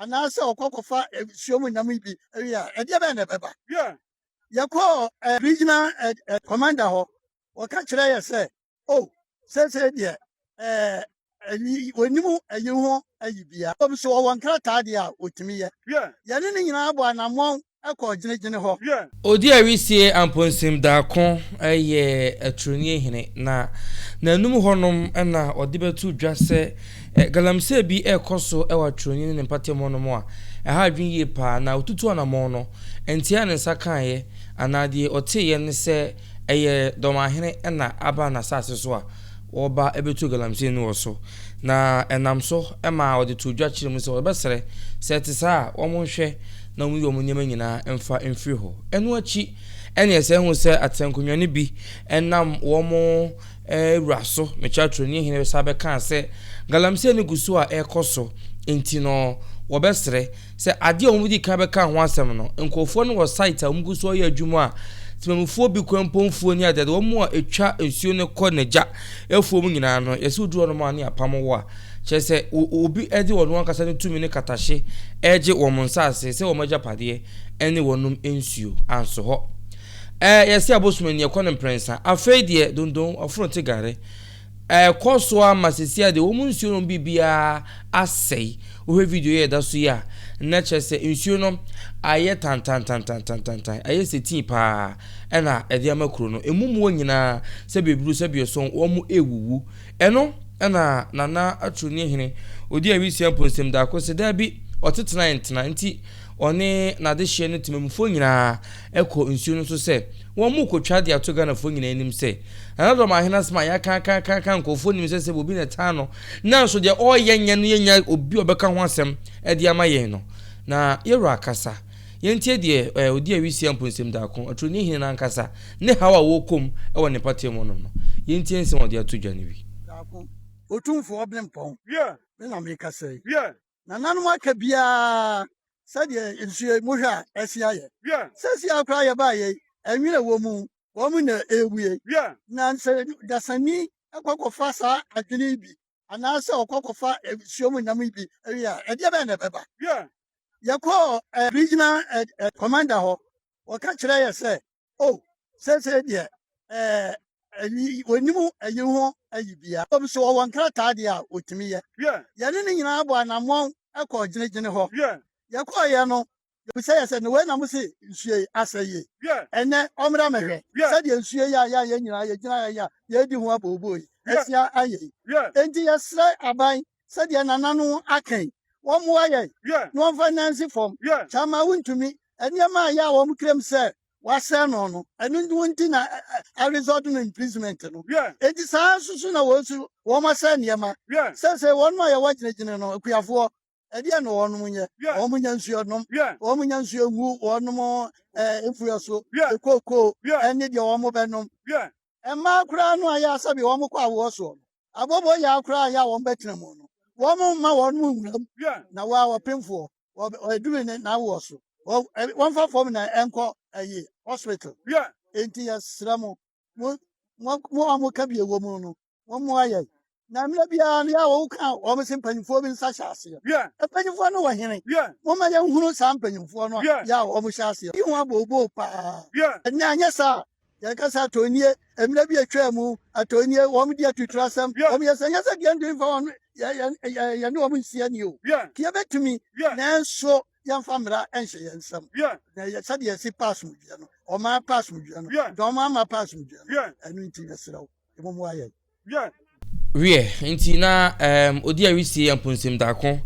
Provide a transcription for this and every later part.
anaasɛ ɔkɔ kɔfa nsuo mu nam bi wie a, ɛdeɛ bɛn na ɛbɛba? Yɛkɔɔ regional commander hɔ, wɔka kyerɛ yɛ sɛ, o, seesei deɛ wɔnim ayi ho ayi bia, mmom sɛ wɔwɔ nkrataa deɛ a wɔtumi yɛ. Yɛne no nyinaa bɔɔ anammɔn kɔɔ gyinagyina hɔ. Odi Arisie Amponsim Darko yɛ Aturoni hene na n'anum hɔnom na ɔde bɛto dwa sɛ galamsey bi rekɔ so wɔ Aturoni ne ne mpatamu hɔnom a ɛha adwene yie paa na ɔtutu anamɔn no nteaa ne nsa kaeɛ anaa deɛ ɔteeɛ ne sɛ ɛyɛ Dɔmahene na aba n'asaase so a wɔreba abɛtu galamsey no wɔ so, na ɛnam so maa wɔde too dwa kyerɛɛ mu sɛ wɔbɛsrɛ sɛ ɛte saa a, wɔnhwɛ na wɔnyi wɔn nneɛma nyinaa mfa mfiri hɔ. Ɛno akyi na yɛsan hu sɛ atɛnkonwa no bi nam wɔn wura so, Mekyaatroni hene, san bɛkaa sɛ galamsey no gu so a ɛrekɔ so nti no, wɔbɛsrɛ Sɛ ade a wɔdii kan bɛkaa ho asɛm no, nkurɔfoɔ no wɔ site a wɔgu so yɛ adwuma a temamufoɔ bi kura mpɔ mfuo ne adeade, wɔn a ɛtwa nsuo no kɔ n'agya afuo mu nyinaa no, yɛsɛ wɔduru hɔnom a ne apam wɔ a, kyerɛ sɛ obi de wɔn ankasa no tumi ne katahye regye wɔn nsase sɛ wɔn agyapadeɛ ne wɔnom nsuo. Anso hɔ. Ɛɛ, yɛsɛ abosom ani ɛkɔ no mprɛnsa. Afei deɛ, dondon, ɔforo te gare. Ɛrekɔ so ara ma seesei ara deɛ wɔn nsuo nom biribiara asɛe. Wohwɛ video yi a ɛda so yi a, na kyerɛ sɛ nsuo no ayɛ tantantantantantantan, ayɛ sɛ tii paa ɛna ɛde ama kuro no. Emu mmoa nyinaa sɛ bebru sɛ biɔsɔn wɔn rewuwu. Ɛno ɛna Nana Aturo Nihene ɔdi awisia mpo nsɛm daako se daabi, ɔtetenae ntena nti ɔne n'adehyeɛ no temammufoɔ nyinaa kɔ nsuo no so sɛ wɔn mo kɔ twa de ato Ghanafoɔ nyinaa anim sɛ Nana Dɔ Maahene asɛm a yɛakaakaakaaka nkorɔfoɔ nim sɛ sɛ bobi na ɛtaa no nanso deɛ ɔreyɛ nyɛ no yɛnya obi a ɔbɛka ho asɛm de ama yɛn no na yɛwura kasa yɛntie deɛ eh, ɔdi awisia mpo nsɛm daako aturoni hene no ankasa ne haw a wɔkɔm wɔ ne mpatamu ɔnom no yɛntie nsɛm a ɔde ato dwa no bi. Otumfoɔ Ɔbenpɔn, me na mekasa yi. nananom aka biara sɛdeɛ nsuo yi mohwɛ a ɛsi ayɛ sɛsi a koraa yɛbaa yei ɛnwene wɔ mu wɔn na ɛrewie na nsɛ dasani kɔkɔfa saa adwene yi bi anaasɛ ɔkɔkɔfa nsuo mu nam yi bi ɛwie a ɛdeɛ bɛn na ɛbɛba yɛkɔɔ regional commander hɔ wɔka kyerɛ yɛ sɛ Oh, seesei deɛ, ɛɛ, ɛyi, wɔnim ɛyi ho ɛyi bia. Wɔm so wɔwɔ nkrataa deɛ a wɔtumi yɛ. Yeah. Yɛne ne nyinaa bɔ anammɔn ɛkɔɔ gyinagyina hɔ. Yeah. Yɛkɔɔyɛ no, yɛbisa yɛ sɛ, na wei na mo se nsuo yi asɛ yie? Yeah. Ɛnɛ, ɔmmra mɛhwɛ. Yeah. Sɛdeɛ nsuo yi a yɛ a yɛn nyinaa yɛgyina ha yi a yɛredi ho abooboo yi, Yeah. asia ayɛ yi. Yeah. Enti yɛsrɛ aban sɛdeɛ nananom aka yi, wɔmmoa yɛn na wɔmfa nnansi fam, sɛ ama wontumi, nneɛma a ɛyɛ a wɔn kra mu sɛ wɔasɛe no no, ɛno nti na a result no imprisonment no, enti saa ara nso so na wɔn nso wɔasɛe nneɛma, seesei wɔnom a yɛwɔ gyinagyina no, akuafoɔ, ɛdeɛn na wɔnom nyɛ? Wɔnnya nsuo nnom, wɔnnya nsuo ngu wɔnom mfuo so, kookoo ne deɛ wɔbɛnom, mmaa koraa no a ɛyɛ a sɛbe wɔkɔ awoɔ soɔ no, Abɔbɔ yɛa koraa a yɛ a wɔbɛtena mu no, wɔmma wɔn mu nwura mu, na wɔ a ɔpemfoɔ, ɔduru ne n'awoɔ so, wɔmfa fam na ɛnkɔ ayi hospital. Enti yɛsrɛ mo, mo a moka bi wɔ mu no, mommoa yɛn. Na mmerɛ biara no yɛ a wɔka wɔn se mpanimfoɔ bi nsa hyɛ aseɛ. Mpanimfoɔ no wɔ hene? Momma yɛnhunu saa mpanimfoɔ no a yɛ a wɔhyɛ aseɛ yi ho abooboo paa, na anyɛ saa a Yɛn kasa atɔ nie, mmerɛ bi atwaa mu atɔ nie, wɔn di atuturo asɛm, wɔn yɛ sɛ, nyɛ sɛ deɛ yɛntumi mfa wɔn, yɛne wɔn nsi ani o, yɛbɛtumi, nanso yɛmfa mmara nhyɛ yɛn nsam, na yɛ sɛdeɛ yɛsi pa asomdwoeɛ no, wɔn ara pa asomdwoeɛ no, na wɔn ara mma pa asomdwoeɛ no, ɛno nti yɛsrɛ wo, mmom mmoa yɛn. Wiɛ. Wiɛ, enti na ɛɛm odi awisie yɛ mponsim daako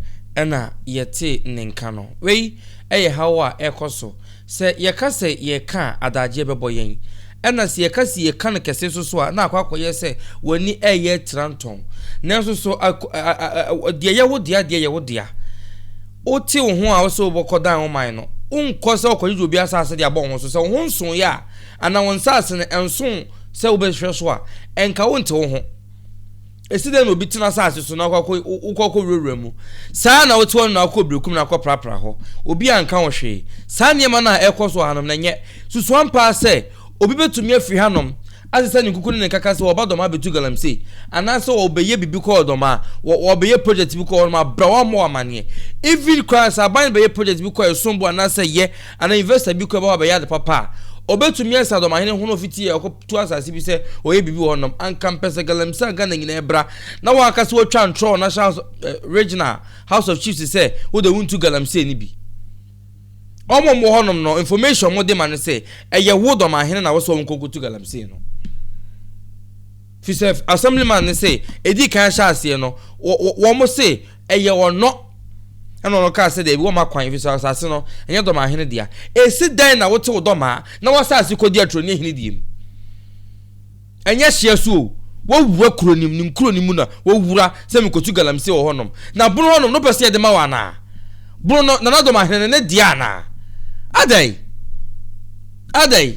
na yɛtee ne nka no. Wei yɛ haw a ɛkɔ so. Sɛ yɛka sɛ yɛreka a, adagyeɛ bɛbɔ yɛn. Ɛna sɛ yɛka se yɛka no kɛse nso so a, na akɔ akɔyɛ sɛ w'ani reyɛ tirantɔn. Nanso so a a deɛ ɛyɛ wo dea deɛ yɛ wo dea? Wote wo ho a wose wobɛkɔ dan wo man no, wonkɔ sɛ wokɔgyegye obi asase de abɔ wo ho so. Sɛ wo ho nsooeɛ a, anaa wo nsase no nso Sɛ wobɛhwɛ so a, ɛnka wonte wo ho. Ɛsi dɛn na obi tena asase so na wokɔ akɔwurawura mu? Saa ara na wote hɔ no na wokɔ berekum na akɔprapra hɔ. Obi anka wo hwee. Saa nneɛma no a ɛrekɔ so wɔ hanom no, ɛnyɛ susu ampa ara sɛ obi bɛtumi afiri hanom asesa ne nkuku ne ne nkaka sɛ wɔba Dɔmaa bɛtu galamsey anaasɛ wɔbɛyɛ biribi kɔɔ Dɔmaa, wɔbɛyɛ project bi kɔɔ hɔnom abrɛ wɔn ama wɔn amanneɛ. Even koraa sɛ aban no bɛyɛ project bi kɔɔ Ɛsonbo anaasɛ Yɛ Anaa investor bi kɔ ɛbɛ hɔ abɛyɛ ade papa a, ɔbɛtumi asa dɔmahene ho na ɔfiti yɛ ɔkɔ tu asase bi sɛ ɔyɛ biribi wɔ hɔ nom. Anka mpɛ sɛ Galamsey a Ghana nyinaa bra na wɔn aka sɛ wɔtwa ntorɔ wɔ National House of, eh, Regional House of Chiefs sɛ wo de wo ntu Galamsey no bi. Wɔn wɔn wɔ hɔ nom no, information wɔn de ma no sɛ ɛyɛ wo dɔmahene na wo sɛ wɔn kɔ kɔtu Galamsey no. Fisɛ Assemblyman no sɛ ɛdi kan hyɛ aseɛ no, wɔn se Ɛyɛ ɔnɔ. Ɛnna ɔno kaa sɛ, Dabi, wɔmma kwan, efisɛ asase no, ɛnyɛ dɔmaa hene dea. Esi dɛn na wote wo dɔmaa na w'asase kodi atoro ne ahene deɛ mu? Ɛnyɛ hyea so o, wowura kuro no mu, ne nkuro no mu na wowura sɛ mekotu galamsey wɔ hɔnom. Na bono hɔnom no wopɛ sɛ yɛde ma wo anaa? Bono no, Nana Dɔmaa hene no, ne dea anaa? Adɛn? Adɛn?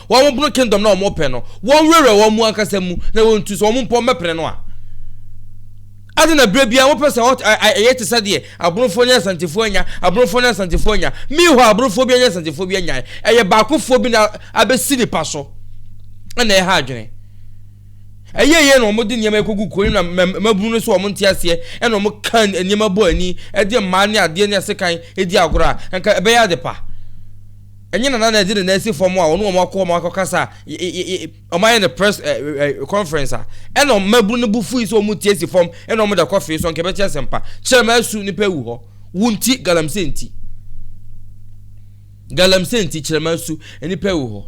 Wɔboro kingdom no a wɔpɛ no, wɔnwerɛwerɛ wɔn mu ankasa mu na wɔntu sɛ wɔn mpɔ mmɛpene no a. Ade na berɛ biara wopɛ sɛ ɛyɛ te sɛ deɛ aborofoɔ ne asantefoɔ anya, aborofoɔ ne asantefoɔ anya. Mihɔ aborofoɔ bi anya asantefoɔ bi anyae. Ɛyɛ baakofoɔ bi na abɛsi nipa so na ɛha adwene. Ɛyɛ yɛ na wɔde nneɛma kɔgu kuro no na mmabunu no so wɔn nte aseɛ ɛna wɔn ka nneɛma bɔ ani ɛde mmaa ne adeɛ ne asekan ɛdi agorɔ a nka ɛbɛyɛ ade pa. Ɛnyɛ Nana na ɛde ne nan si fam a ɔne wɔn akɔ wɔn akɔkasa a wɔn ayɛ no press conference a ɛna mmabunu no bu fui sɛ wɔn tie si fam ɛna wɔn da kɔ fee so nka ɛbɛkyɛ asɛmpa kyerɛ ma asu nipa ewu hɔ wo nti galamsey nti galamsey nti kyerɛ ma asu nipa ewu hɔ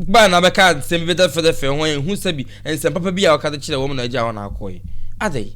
baa na bɛka nsɛm bi bɛda fɛdɛ fɛ ho ɛhu sɛbi nsɛm papa bi a ɔka de kyerɛ wɔn na agya wɔn akɔ yi adɛ yi.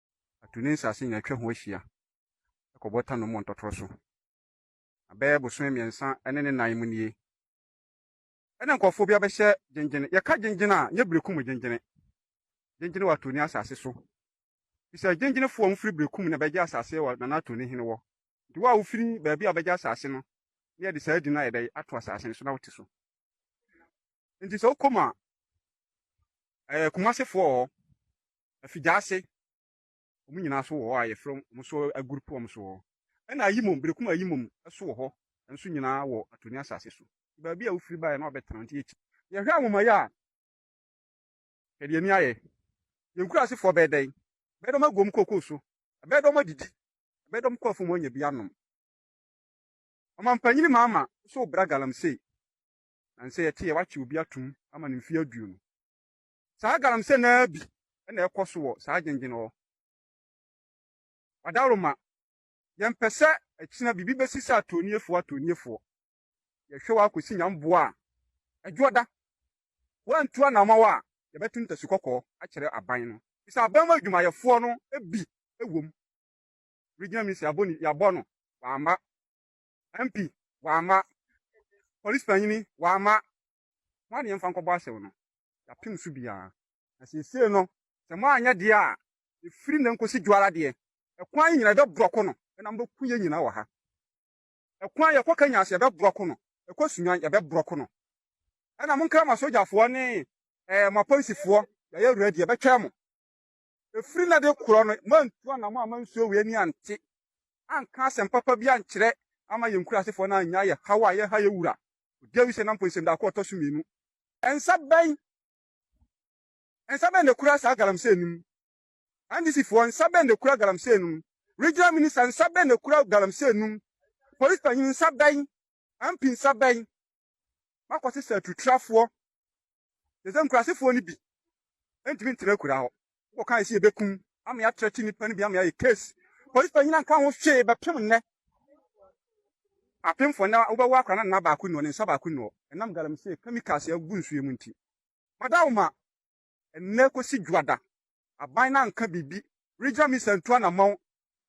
atu ne nsase nyinaa atwa ho ahyia kɔ Bɔta Nom wɔ Ntɔtorɔ so. Na bɛyɛ bosome mmiɛnsa ne ne nan mu nie na nkurɔfoɔ bi abɛhyɛ Gyengyene. Yɛka Gyengyene a, nyɛ Berekum Gyengyene. Gyengyene wɔ Atoni asase so. Fisɛ Gyengyenefoɔ a wɔfiri Berekum na bɛgye asase wɔ Nana Atoni hene wɔ. Nti wo a wofiri baabi a bɛgye asase no na yɛde saa din no ayɛ dɛn ato asase no so na wote so. Nti sɛ wokɔ mu a, ɛyɛ Kumasefoɔ wɔ hɔ. Afigyase, wɔn nyinaa so wɔ hɔ a yɛfrɛ wɔn so aguru po wɔn so hɔ. Ɛna ayimom, berekum ayimom so wɔ hɔ nso nyinaa wɔ Atoni asase so. Nti baabi a wofiri baeɛ na wɔabɛtena nti yɛkyi. Yɛhwɛ anwomayɛ a, hwɛ deɛ ani ayɛ. Yɛn nkurasefoɔ bɛyɛ dɛn? Ɛbɛyɛ dɛ wɔagu wɔn kookoo so? Ɛbɛyɛ dɛ wɔadidi? Ɛbɛyɛ dɛ wɔkɔ afuom anya bi anom? Ɔmampanin Mahama nso rebra galamsey. Nansei ɛteɛ, wɔakye obi atom ama no mfeɛ aduonu. Saa galamsey no ara bi na ɛkɔ so wɔ saa gyengyen hɔ. Ɔdawroma, Yɛmpɛ sɛ akyina biribi bɛsi sɛ atɔnniefoɔ atɔnniefoɔ. Yɛhwɛ wo ara kɔsi nyamboa a ɛdwoɔ da. Woantu anamaw a yɛbɛto ntasu kɔkɔɔ akyerɛ aban no. Bisa aban mu adwumayɛfoɔ no bi wom. Regional Minister yɛabɔ ne yɛabɔ no, wamma. MP, wamma. Polisipanyini, wamma. Mo adeɛ mfa nkɔbɔ asau no, yɛapem so biara. Na seesei no, sɛ moanyɛ deɛ a, ɛfiri nnɛ nkɔsi dwoara deɛ, ɛkwan yi nyina yɛbɛbrɔko no, na mobɛku yɛn nyina wɔ ha. Ɛkwan yɛkɔ Kenya so yɛbɛbrɔko no, ɛkɔ Sunyani yɛbɛbrɔko no. Ɛna monkra moasogyafoɔ ne ɛɛ moapolisifoɔ, yɛayɛ ready, yɛbɛtwɛn mo. Ɛfiri na de korɔ no, moantu anamɔ amma nsuo wei ani ante, anka asɛm papa bi ankyerɛ amma yɛn nkurasefoɔ no annyae yɛn haw a yɛreha yɛn wura, ɔdi awi sɛ na mpo nsɛmdako a ɔtɔ so mmienu. Nsa bɛn, nsa bɛn na ɛkura saa galamsey no mu? NDCfoɔ, nsa bɛn na ɛkura galamsey no mu? Regional Minister, nsa bɛn na ɛkura galamsey no mu? Polisipanyini, nsa bɛn? MP, nsa bɛn? makɔsesa atutrafoɔ te sɛ nkurasefoɔ no bi ntumi ntena akuraa hɔ wɔka ɛsi ɛbɛkum ama yɛatrɛte nnipa no bi ama yɛayɛ case polisi panyina nka ho hwee bɛpem nnɛ apemfoɔ nnɛ wobɛwɔ akora no nna baako nnuɔ ne nsa baako nnuɔ ɛnam galamsey chemicals agu nsuo mu nti madawo ma nnɛ kɔsi dwoada aban no anka biribi regional minister ntu anamɔn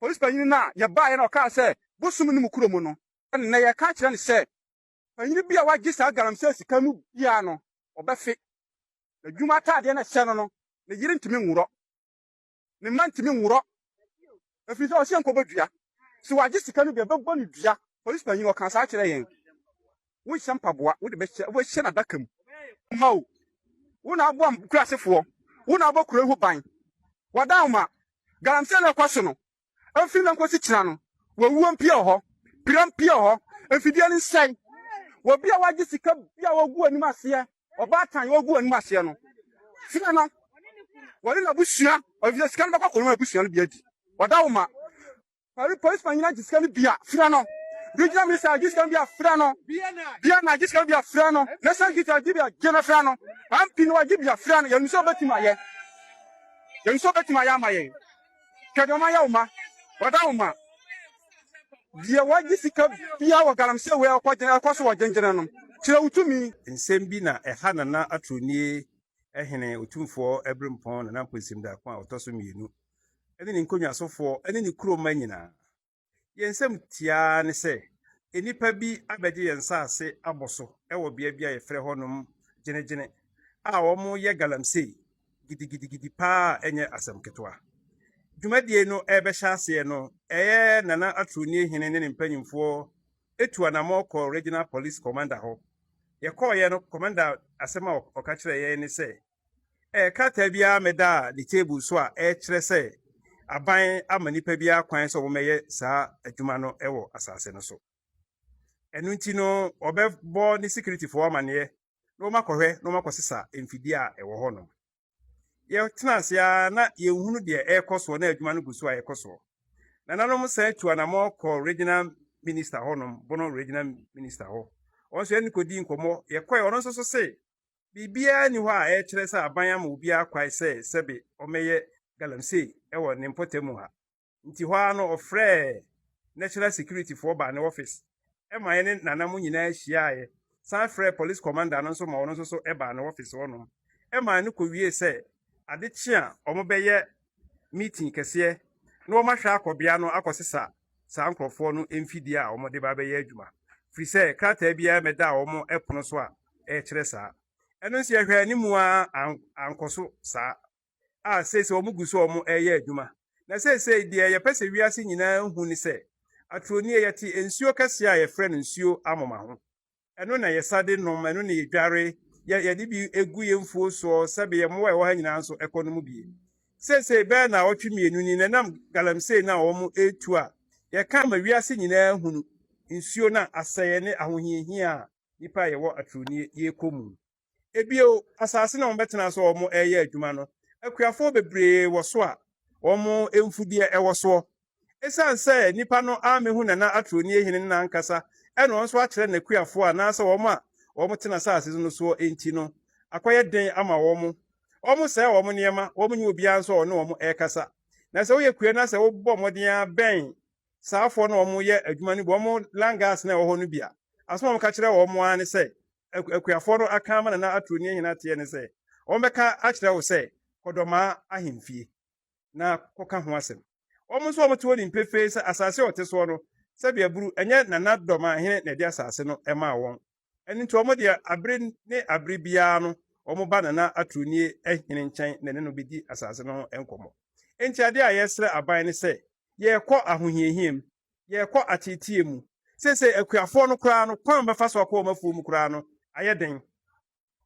polisi panyini no a yɛbaeɛ na ɔkaa sɛ bosom no mu kuro mu no nnɛ yɛka kyerɛ no sɛ Panyin bi a wagye saa galamsey sika no biara no, ɔbɛfe. N'adwuma ataadeɛ no a ɛhyɛ no no, ne yere ntumi nworɔ. Ne mma ntumi nworɔ, ɛfiri sɛ ɔse nkɔbɔ dua. Sɛ wagye sika no deɛ, ɛbɛbɔ no dua. Polisi panyin, ɔkaa saa kyerɛɛ yɛn. Wonhyɛ mpaboa, wode bɛhyɛ, wobɛhyɛ no adaka mu. Mao, wo na woboa nkuraase foɔ, wo na wobɔ kuro yi ho ban. W'adaoma, galamsey no a ɛkɔ so no, Mfe no nkosi kyena no, wawuo mpie wɔ hɔ, pira mpie wɔ hɔ, mfidie no nsɛe. Wɔ bia wagye sika bia wɔgu anim aseɛ, ɔbaatan wɔgu anim aseɛ no, fie no wɔne n'abusua, efisɛ sika no bɛkɔ akɔnom abusua no bi adi. Wɔda wo ma. Pari polisi panyin agye sika no bi a, frɛ no. Regional minister agye sika no bi a, frɛ no. BNI agye sika no bi a, frɛ no. National security agye bi a, gye no frɛ no. MP no agye bi a, frɛ no. Yɛnim sɛ ɔbɛtumi ayɛ. Yɛnim sɛ ɔbɛtumi ayɛ ama yɛn. Hwɛ deɛ wɔayɛ wo mma. Wɔda wo mma. Deɛ wagye sika biara wɔ galamsey wei a ɔkɔgyina ɛkɔ so wɔ gyengyenɛ no, kyerɛ wo tumi. Nsɛm bi na ɛha Nana Atornie Hene Otumfoɔ Abirimpɔn Nana Mponsim Darko a ɔtɔ so mmienu ne ne nkonnwasofoɔ ne ne kuro mma nyinaa. Yɛn nsɛm tiaa ne sɛ nnipa bi abɛgye yɛn nsase abɔ so wɔ bea bi a yɛfrɛ hɔnom Gyenegyene a wɔyɛ galamsey gidigidigidi paa a ɛnyɛ asɛm ketewa. Dwumadie no rebɛhyɛ aseɛ no, ɛyɛ Nana Atroni Hene ne ne mpanyimfoɔ tu anammɔn kɔɔ Regional Police Commander hɔ. Yɛkɔeɛ no, Commander asɛm a ɔka kyerɛɛ yɛn ne sɛ, Ɛɛ, krataa biara mmɛdaa ne table so a ɛkyerɛ sɛ aban ama nnipa biara kwan sɛ wɔmmɛyɛ saa adwuma no wɔ asase no so. Ɛno nti no, wɔbɛbɔ ne sikiritifoɔ amanneɛ na wɔakɔhwɛ na wɔakɔsesa mfidie a ɛwɔ hɔnom. Yɛtena ase ara na yɛnhunu deɛ ɛrekɔ soɔ na adwuma no gu so a ɛkɔ soɔ. Nananom san tu anammɔn kɔɔ regional minister hɔnom, Bono regional minister hɔ. Wɔn nso yɛne no kɔdii nkɔmmɔ. Yɛkɔe, ɔno nso so se biribiara nni hɔ a ɛrekyerɛ sɛ aban ama obiara kwae sɛ sɛbe ɔmmɛyɛ galamsey wɔ ne mpɔtam mu ha. Nti hɔ ara no ɔfrɛɛ National Security foɔ baa ne office ma yɛne Nana mo nyinaa hyiaaeɛ, san frɛɛ Police Commander no nso ma ɔno nso so baa ne office hɔnom ma ɛno kɔwiee sɛ ade kye a wɔbɛyɛ meeting kɛseɛ na wɔahwɛ akɔ bea no akɔsesa saa nkorɔfoɔ no mfidie a wɔde ba bɛyɛ adwuma, firi sɛ krataa biara mmɛdaa wɔn pono so a ɛkyerɛ saa. Ɛno nso yɛhwɛɛ anim ara ankɔ so saa, a seesei wɔgu so a wɔreyɛ adwuma. Na seesei deɛ yɛpɛ sɛ wiase nyinaa hu ne sɛ, aturo nie, yɛte nsuo kɛseɛ a yɛfrɛ no nsuo amoma ho. Ɛno na yɛsa de nom, ɛno na yɛdware, yɛ, yɛde bi gu yɛn mfuo soɔ, sɛbe yɛn mmoa a ɛwɔ ha nyinaa nso kɔ nom bi. Seesei bɛyɛ nnawɔtwe mmienu ni na ɛnam galamsey no a wɔretu a yɛka ma wiase nyinaa hunu, nsuo no a asɛeɛ ne ahohiahia a nnipa a yɛwɔ atorɔnie yɛrekɔ mu. Bio, asase no a wɔbɛtena so a wɔreyɛ adwuma no, akuafoɔ bebree wɔ so a wɔn mfudeɛ wɔ soɔ. Ɛsiane sɛ nnipa no ammɛhu Nana Atronie Hene no n'ankasa na wɔn nso akyerɛ n'akuafoɔ anaasɛ wɔn a wɔtena asase no soɔ nti no, akɔyɛ den ama wɔn. Wɔsɛe wɔn nneɛma, wɔnyɛ obiara nso a ɔne wɔn rekasa. Na sɛ woyɛ kua no a, sɛ wobɔ mmɔden ara bɛn saa afoɔ no a wɔyɛ adwuma no bi, wɔn langas no a ɛwɔ hɔ no bi a, asɛm a wɔka kyerɛ wɔn ara ne sɛ, akuafoɔ no aka ama Nana Aturo ne Ahene Ateɛ ne sɛ, wɔbɛka akyerɛ wo sɛ kɔdɔmaa ahemfie na kɔka ho asɛm. Wɔn nso wɔte hɔ nim pefee sɛ asase a wɔte soɔ no, sɛdeɛ buru, ɛnyɛ Nana Dɔmaahene na ɛde asase no maa wɔn. Ɛno nti wɔn deɛ, abere ne abere biara no, wɔba Nana Aturo ne Ahene nkyɛn na ɛne no bɛdi asase no ho nkɔmmɔ. Enti adeɛ a yɛsrɛ aban ne sɛ, yɛrekɔ ahohiahia mu, yɛrekɔ ateetee mu. Seesei akuafoɔ no koraa no, kwan a wɔbɛfa so akɔ wɔn afuo mu koraa no, ayɛ den.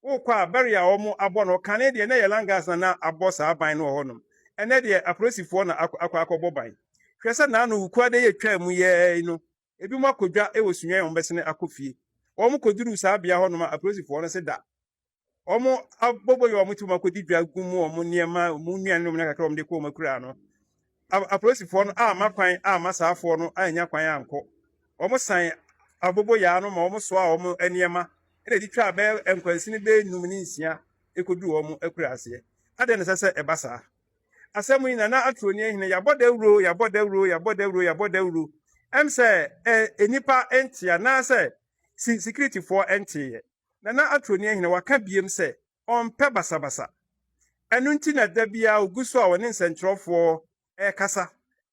Wokɔ a, barrier a wɔabɔ no, kane deɛ na ɛyɛ langas na na abɔ saa ban no wɔ hɔnom. Ɛnnɛ deɛ, apolisifoɔ na akɔ akɔ akɔbɔ ban. Hwɛ sɛ naano wukuada yi a ɛtwaa mu yɛɛ yi no, ebinom akɔ dwa wɔ Sunyani a wɔbɛsene akɔ fie. Wɔkɔduruu saa bea hɔnom a, apolisifoɔ no se da. wɔabobɔ yɛ wɔn ti wɔn akɔdi dwa gu mu wɔn nneɛma wɔn nnuane nom na kakra wɔn de kɔ wɔn akuraa no apolisifoɔ no amma kwan amma saafoɔ no annya kwan ankɔ wɔn san abobo yaa no ma wɔn soa wɔn nneɛma ɛna ɛdi twa bɛyɛ nkwansini bɛyɛ num ne nsia ɛkɔdu wɔn akura aseɛ adɛn na ɛsɛ sɛ ɛba saa asɛm yi nana aturo ni ahene yɛabɔ dawuro yɛabɔ dawuro yɛabɔ dawuro yɛabɔ dawuro ɛm sɛ nnipa nte anaasɛ sikiritifoɔ nteeɛ Nana Atroni Ahina waka biem sɛ ɔmpɛ basabasa. Ɛno nti na da biara ogu so a ɔne nsɛnkyerɛwfoɔ rekasa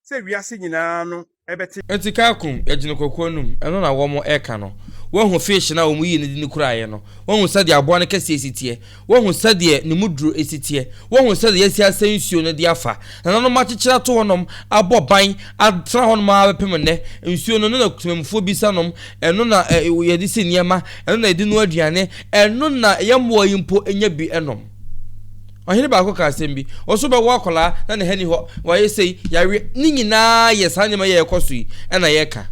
sɛ wiase nyinaa no bɛte. Nti kaakum yɛgyene kɔkɔɔ nom ɛno na wɔn ɛka no wahu fish no a wɔn yii no de no kuraeɛ no wahu sɛdeɛ aboa no kɛseɛ si teɛ Woahu sɛdeɛ ne mu duro si teɛ? Woahu sɛdeɛ yɛasi asɛe nsuo no de afa? Nananom akyekyere ato hɔnom, abɔ ban atena hɔnom ara bɛpem nnɛ. Nsuo no, ɛno na temanmufoɔ bi sa nom, ɛno na yɛde si nneɛma, ɛno na yɛde noa aduane, ɛno na yɛn mmoa yi mpo nya bi nom. Ɔhene baako kaa asɛm bi, ɔse wobɛwo akwadaa na ne ha ni hɔ, wayɛ sei, yareɛ, ne nyinaa yɛ saa nneɛma yɛ ɛkɔ so yi na yɛka.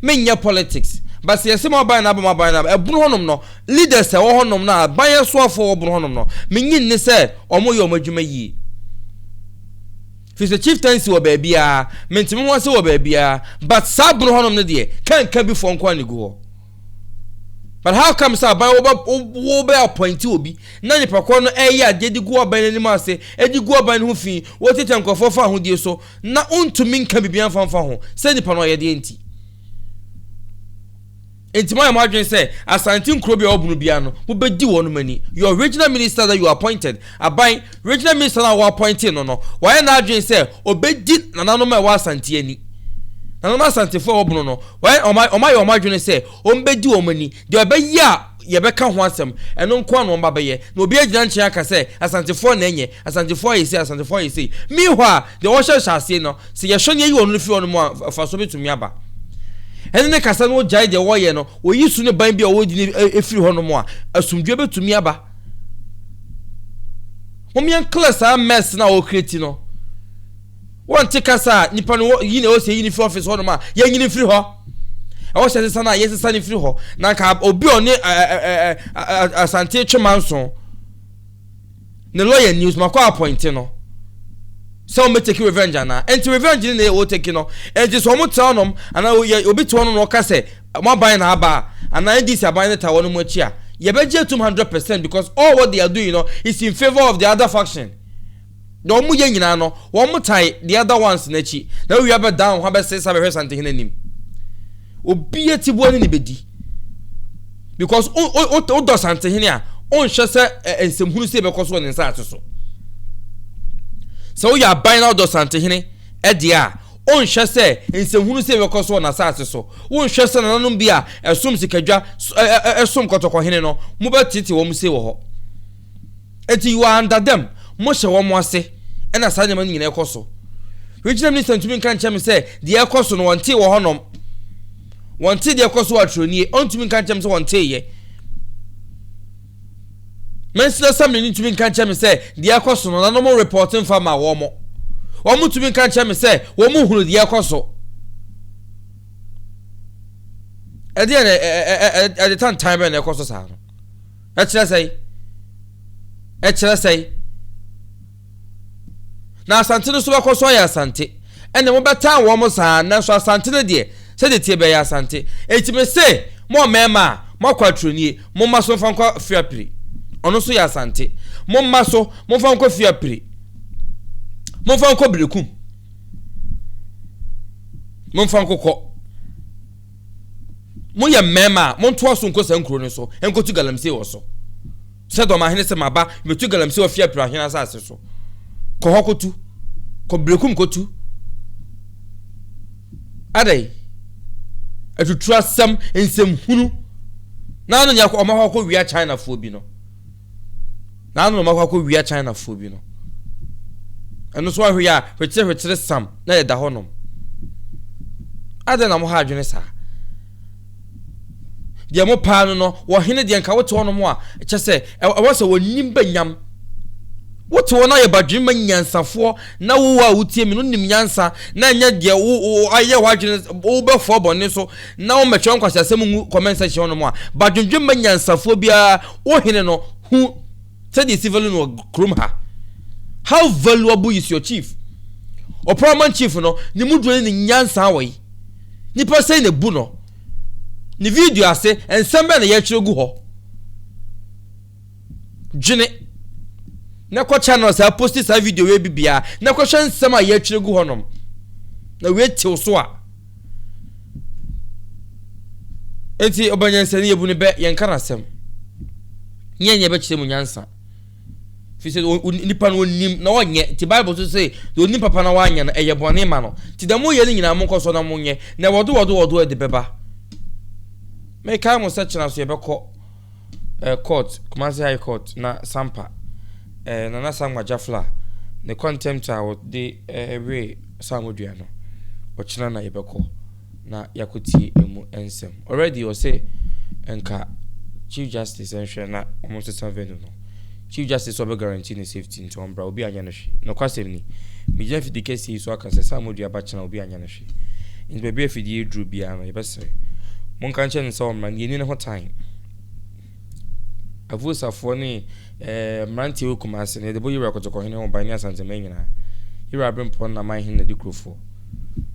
me nyɛ politics but sɛ yɛsɛ maban na abam aban na ɛbono hɔnom no leaders ɛwɔ hɔnom no a ban ɛsoafoɔ ɛwɔ bono hɔnom no menyi nne sɛ ɔmo yɛ ɔmo adwuma yie firi sɛ chieftaincy wɔ baabiara mentimi ho ase wɔ baabiara but saa bono hɔnom no deɛ kanka bi foɔ nko a ne gu hɔ but how come sɛ aban wobɛ appointi obi na nipa korɔ no ɛyɛ adeɛ de gu aban no anim ase ɛde gu aban no ho fi wɔtete nkurɔfoɔ fa ahodie so Ná ontumi nka biribiara mfa mfa ho sɛ nipa no ɔyɛdeɛ nti. Enti moayɛ mo adwene sɛ Asante nkuro bi a ɛwɔ bunu biara no, mobɛdi wɔnom ani. Your regional minister that you appointed, Aban, regional minister no a woappointee no no, wayɛ n'adwene sɛ ɔbɛdi nananom a ɛwɔ Asante ani. Nananom Asantefoɔ a ɛwɔ bunu no, wayɛ, wɔn, wɔn ayɛ wɔn adwene sɛ wɔbɛdi wɔn ani. Deɛ ɔbɛyɛ a yɛbɛka ho asɛm, ɛno nko ara na wɔn ba bɛyɛ. Na obi agyina nkyɛn aka sɛ Asantefoɔ na ɛnyɛ. Asantefo ayɛ sei, Asantefo ayɛ sei. Meanwhile, deɛ wɔhyɛ nhyɛaseɛ no, sɛ yɛhwɛ na yɛyi wɔn no fi hɔ nom a, mfasoɔ bɛtumi aba. Ɛne ne kasa no gyae deɛ wɔyɛ no, wɔyi su ne ban bi a wɔdi no e, e, firi hɔ nom a, asomdwoeɛ bɛtumi aba. Mom yɛn clear saa mess no a wɔkreti no. Wɔnte kasa a nipa no yi na ɛwɔ sɛ yɛyi no firi office hɔ nom a, yɛnyini mfiri hɔ. Ɛwɔ sɛ sesa no a, yɛsesa no firi hɔ. Na nka obi ɔne Asante Twema nso. Ne lɔya Nils Makɔ apɔinte no sɛ wɔn bɛ teki revenge anaa nti revenge ne na yɛ wɔ teki no nti so wɔn tra nom anaa yɛ obi te hɔ no na ɔka sɛ wɔn aban na aba a anaa NDC aban ne ta wɔn mu akyi a yɛbɛ gye atum hundred percent because all what they are doing no is in favour of the other faction na wɔn yɛ nyinaa no wɔn tae the other ones n'akyi na awia bɛ dan ho abɛsesa bɛhwɛ santehene anim. Obi atiboa ne ne bɛdi because wodɔ santehene a wonhwɛ sɛ nsɛmhunu sɛ ɛbɛkɔ so wɔ ne nsaase so sɛ woyɛ aban na wodɔ santehene ɛdeɛ a wonhwɛ sɛ nsɛmhunu sɛ ɛbɛkɔ so wɔ n'asaase so wonhwɛ sɛ nananom bi a ɛsom sikadwa ɛsom kɔtɔkɔhene no mobɛtete wɔn se wɔ hɔ Enti wɔannda dɛm, mohyɛ wɔn ase, ɛna saa nneɛma no nyinaa kɔ so. Regional Minister ntumi nka nkyerɛ me sɛ deɛ ɛkɔ so no wɔntee wɔ hɔnom. Wɔntee deɛ ɛkɔ so wɔ Aturo nie, ɔntumi nka nkyerɛ me sɛ wɔnteeɛ. Mansin Assembly no ntumi nka nkyerɛ me sɛ deɛ ɛkɔ so no na wɔn repɔɔte mfa ma wɔn. Wɔn tumi nka nkyerɛ me sɛ wɔn hunu deɛ ɛkɔ so. Ɛdeɛ na ɛde tantan bɛn na ɛkɔ so saa no. Ɛkyerɛ sɛn? Ɛkyerɛ sɛn? Na Asante no nso bɛkɔ so ayɛ Asante. Ɛnna mobɛtan wɔn saa, nanso Asante no deɛ, sɛdeɛ ɛteɛ biara ɛyɛ Asante. Enti mese mo mmarima a moakɔ aturenie, momma so mfa nkɔ Fiapiri. Ɔno nso yɛ Asante. Momma so momfa nkɔ Fiapiri. Momfa nkɔ Berekum. Momfa nkokɔ. Moyɛ mmarima a, montoa so nkɔ saa nkuro no so nkɔtu galamsey wɔ so. Sɛ dɔmahene sɛ maba metu galamsey wɔ fiapira hene asase so. Kɔ hɔ kɔtu. Kɔ brekum kɔtu. Adɛn? Atuturu asɛm, nsɛmhunu. Na ano nyɛ ɔma hɔ akɔwia Chinafoɔ bi no. Naaso na ɔmakɔ akowia Chinafoɔ bi no. Ɛno so ahwɛ yi a, hwekyere hwekyere sam na yɛda hɔ nom. Adɛn na moha adwene saa? Deɛ mo paa no no, wɔ hene deɛ nka wote hɔ nom a, kyɛ sɛ ɛwɔ sɛ wɔnim ba nyam. Wote hɔ na yɛ badwene ma nyansafoɔ na wo a wotie me no nim nyansa na ɛnyɛ deɛ wo ayɛ hɔ adwene wobɛfoɔ bɔne so na wɔmɛtwerɛ nkwasiasɛm ngu comment section hɔ nom a, badwendwen ma nyansafoɔ biara Wo hene no hu sɛdeɛ ɛsi value no wɔ kurom ha. How valuable is your chief? Ɔpra ɔman chief no, ne mu duro ne ne nyansa wɔ yi. Nipa sɛn na bu no? Ne video ase, nsɛm bɛn na yɛtwerɛ gu hɔ? Dwene. Na kɔ channel saa posti saa video wei bi biara, na kɔhwɛ nsɛm a yɛtwerɛ gu hɔnom. Na wei tew so a. Enti ɔba nyansani, yɛbu no bɛ, yɛnka n'asɛm, ne yɛnyɛ bɛkyerɛ mu nyansa. Firi sɛ nipa no ɔnim na ɔnyɛ, nti Bible so se, deɛ ɔnim papa na wanyɛ no, ɛyɛ bɔne ma no. Nti deɛ moyɛ no nyinaa monkɔ so na monyɛ, na wɔde wɔde wɔde de bɛba. Mekae mo sɛ kyena so yɛbɛkɔ. Ɛɛ court, Kumasi High Court na Sampa, ɛɛ Nana Sankma Jafla ne contempt a wɔde ɛɛ wee Saamodua no, ɔkyena na yɛbɛkɔ na yɛakɔtie ɛmu nsɛm. Already ɔse nka Chief Justice nhwɛ na wɔnsesa venue no. Chief Justice sɛ ɔbɛ guarantee ne safety. si nti ɔmbra, obi annyɛ no hwee. Nokwasɛm ni, megyina fidie kɛseɛ yi so aka sɛ, sɛ amodua ba kyena a, obi annyɛ no hwee. Enti baabi a fidie yi duru biara no, yɛbɛsrɛ. Monka nkyerɛ no sɛ ɔmmra, na yɛnni ne ho tan. Avuosafoɔ ne eh, mmeranteɛ wɔ Kumase no, yɛde bɔ Yewura Kotokohene ho ban ne Asanteman nyinaa. Yewura Aberempɔn no na man hene na di kurofoɔ.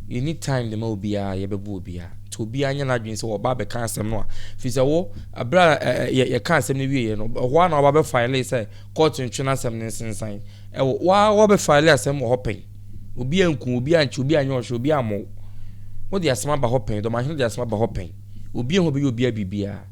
Yɛnni time de ma obiara, yɛbɛbo obiara. Nti obiara nyɛ n'adwene sɛ ɔba abɛka asɛm no a, firi sɛ wo, berɛ a eh, eh, yɛ, yɛka asɛm no wieeɛ no, ɛhɔ ara na ɔba bɛfaelee sɛ Kɔɔto ntwe n'asɛm no nsensan. Ɛwɔ wo ara wɔbɛfaele asɛm wɔ hɔ pɛn. Obi anku wo, obi ankye wo, obi anyɛ ɔhwɛ, obi ammɔ wo. Wode asɛm aba hɔ pɛn, dɔmahene de asɛm aba hɔ pɛn. Obiara ho bɛyɛ obiara biribiara.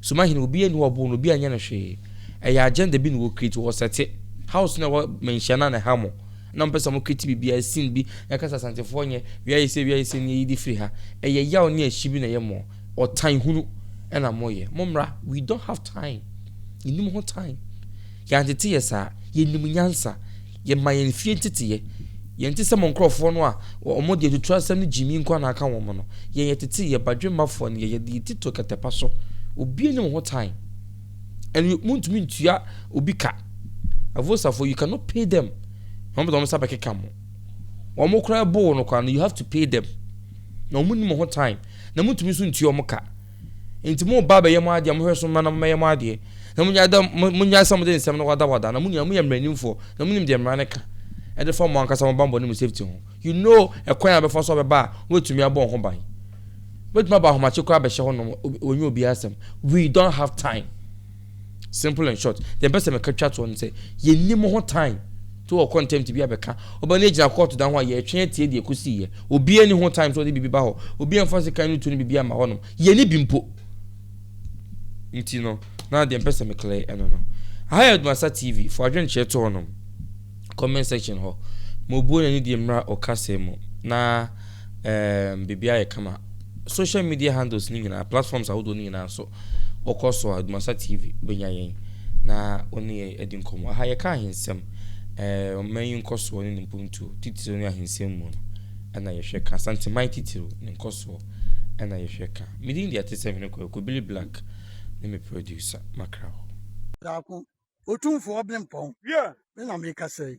Sumahene, obiara nni hɔ a ɔboo no, obiara nyɛ no hwee. Ɛyɛ agenda bi na wɔ create, wɔ sɛte. House no a ɛwɔ manhyia no a na ɛha mo, na wɔpɛ sɛ wɔcreate biribiara, scene bi, na ɛka sɛ Asantefoɔ nyɛ, wia yɛ sei, wia yɛ sei, nea yɛde firi ha. Ɛyɛ yaw ne ahyi bi na ɛyɛ mo. Ɔtan hunu na mo yɛ. Mo mmra we don't have time yɛnim ho time yɛantete yɛ saa yɛnim nyansa yɛma yɛn fie nteteyɛ yɛnte sɛ mo nkorɔfoɔ no a wɔn deɛ tutura asɛm no gyimi nko na aka wɔn no yɛn yɛtete yɛ badwemmafoɔ no yɛ yɛde yɛ tito kɛtɛpa so obi anim ho time and montumi ntua obi ka avosafoɔ you cannot pay them wɔn bɛtɔ wɔn sa bɛkeka mo wɔn koraa boo no koraa no you have to pay them na wɔn nim ho time na montumi nso ntua wɔn ka. Enti mo ba bɛyɛ mo adeɛ a, mohwɛ so mma na mommɛyɛ mo adeɛ, na monnyae dɛ, monnyae sɛ mode nsɛm no wadawada, na mo nyinaa moyɛ mmaranimfoɔ, na monim deɛ mmara no ka de fa mo ankasa mo bammɔne mu safety ho. You know ɛkwan a wobɛfa so a wobɛba a woatumi abɔ wo ho ban. Wobɛtumi aba ahomakye koraa abɛhyɛ hɔnom, wɔnyɛ obiara asɛm. We don't have time. Simple and short, deɛ bɛsɛ meka twa toɔ no sɛ yɛnni mo ho time to wɔ contempt bi abɛka ɔba no agyina kɔɔto dan ho a yɛretwɛn atie deɛ ɛkɔsiiɛ. Obiara ni ho time sɛ ɔde biribi ba hɔ, obiara mfa sekan no to no biribi ama hɔnom, yɛne bi mpo. Nti no, na deɛ mpɛ sɛ meklɛ ɛno no. Aha yɛ Odumasa TV, fa adwenkyerɛ to hɔnom, comment section hɔ, ma obuo n'ani deɛ mmra ɔkasɛm mu, na. Ɛɛm biribi ayɛ kama. Social media handles no nyinaa, platforms ahodoɔ no nyinaa so. Wokɔ so a, Dumasa TV bɛnya yɛn na wo ne yɛn adi nkɔmmɔ. Aha yɛka ahensɛm, ɛɛ ɔman yi nkɔsoɔ ne ne mpuntuo titiriw ne ahensɛm mu no ɛna yɛhwɛ ka. Asanteman titiriw ne nkɔsoɔ ɛna yɛhwɛ ka. Me din deɛ ɛte sɛ hwene kwaku Billy Black ne me producer Makraw. Daako, Otumfoɔ Ɔbenpɔn, me na merekasa yi.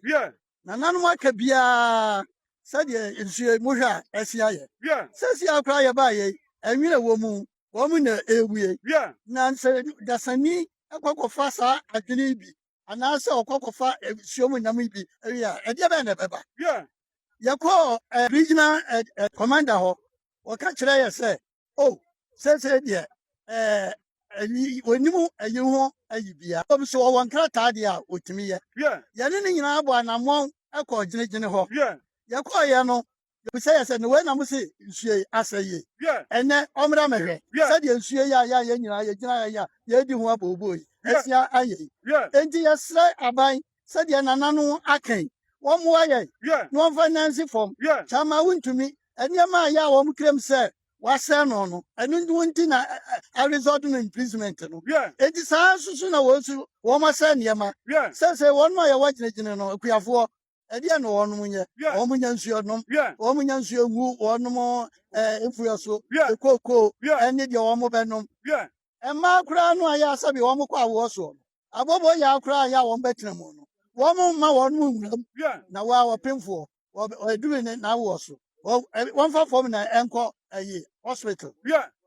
nananom aka biara sɛdeɛ nsuo yi mohwɛ a ɛsen ayɛ. Sɛsiaa koraa yɛbaa yei, ɛnwene wɔ mu, wɔn na ɛrewie. Na sɛ dasani kɔ kɔfa saa adwene yi bi anaasɛ ɔkɔ kɔfa nsuo mu nam yi bi wie a, ɛdeɛ bɛn na ɛbɛba? Yɛkɔɔ regional commander hɔ, ɔka kyerɛ yɛ sɛ Oh, seesei deɛ, ɛɛ, ayi, wɔnim ayi ho ayi bia. Wɔm so wɔwɔ nkrataa deɛ a wɔtumi yɛ. Yɛne ne nyinaa bɔ anammɔn kɔɔ gyinagyina hɔ. Yɛkɔɔeɛ no, yɛbisa yɛ sɛ, na wei na mo se nsuo yi asɛe yi? Ɛnnɛ, ɔmmra mmɛhwɛ sɛdeɛ nsuo yi a yɛ a yɛn nyinaa yɛgyina ha yi a yɛredi ho abooboo yi asia ayɛ yi. Enti yɛsrɛ aban sɛdeɛ nananom aka yi, wɔmmoa yɛn na wɔmfa nnansi fam kyɛ ama wontumi nneɛma a ɛyɛ a wɔn kra mu sɛ wɔasɛe no no. Ɛno nti na a result no imprisonment no. Enti saa ara nso so na wɔn nso wɔasɛe nneɛma. Seesei wɔnom a yɛwɔ gyinagyina no, akuafoɔ, ɛdeɛn na wɔnom nyɛ? Wɔnnya nsuo nnom, wɔnnya nsuo ngu wɔnom mfuo so, kookoo ne deɛ wɔbɛnom. Mmaa koraa no a ɛyɛ a sɛbe wɔkɔ awoɔ soɔ no, abɔbɔ yaw koraa yɛ a wɔbɛtena mu no, wɔmma wɔn mu nwura mu, na wɔ a ɔpemfoɔ aduru ne n'awoɔ so, wɔmfa fam na ɛnkɔ ayi hospital.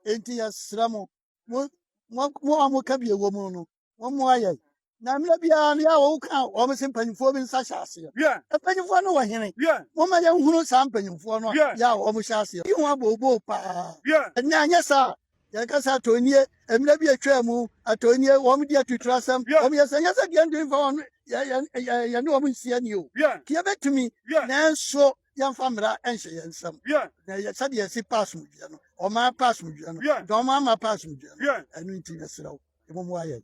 Enti yɛsrɛ mo, mo a moka bi wɔ mu no, mommoa yɛn. Na mmerɛ biara no, yɛ a wɔka wɔn se mpanimfoɔ bi nsa hyɛ aseɛ. Mpanimfoɔ no wɔ hene? Momma yɛnhunu saa mpanimfoɔ no a yɛ a wɔhyɛ aseɛ yi ho abooboo paa, na anyɛ saa a, Yɛka sɛ atɔ nie, mmerɛ bi atwaa mu, atɔ nie, wɔn di atuturasɛm, wɔn yɛ sɛ, nyɛ sɛ deɛ nti fa wɔn, yɛ, yɛ, yɛ, yɛne wɔn nsi ani o, nti yɛbɛtumi, nanso yɛmfa mmara nhyɛ yɛn nsam, na yɛ sɛdeɛ yɛsi pa asomdwoeɛ no, wɔn ara pa asomdwoeɛ no, na wɔn ara ma pa asomdwoeɛ no, ɛno nti mesrɛ wo, mmom woayɛ.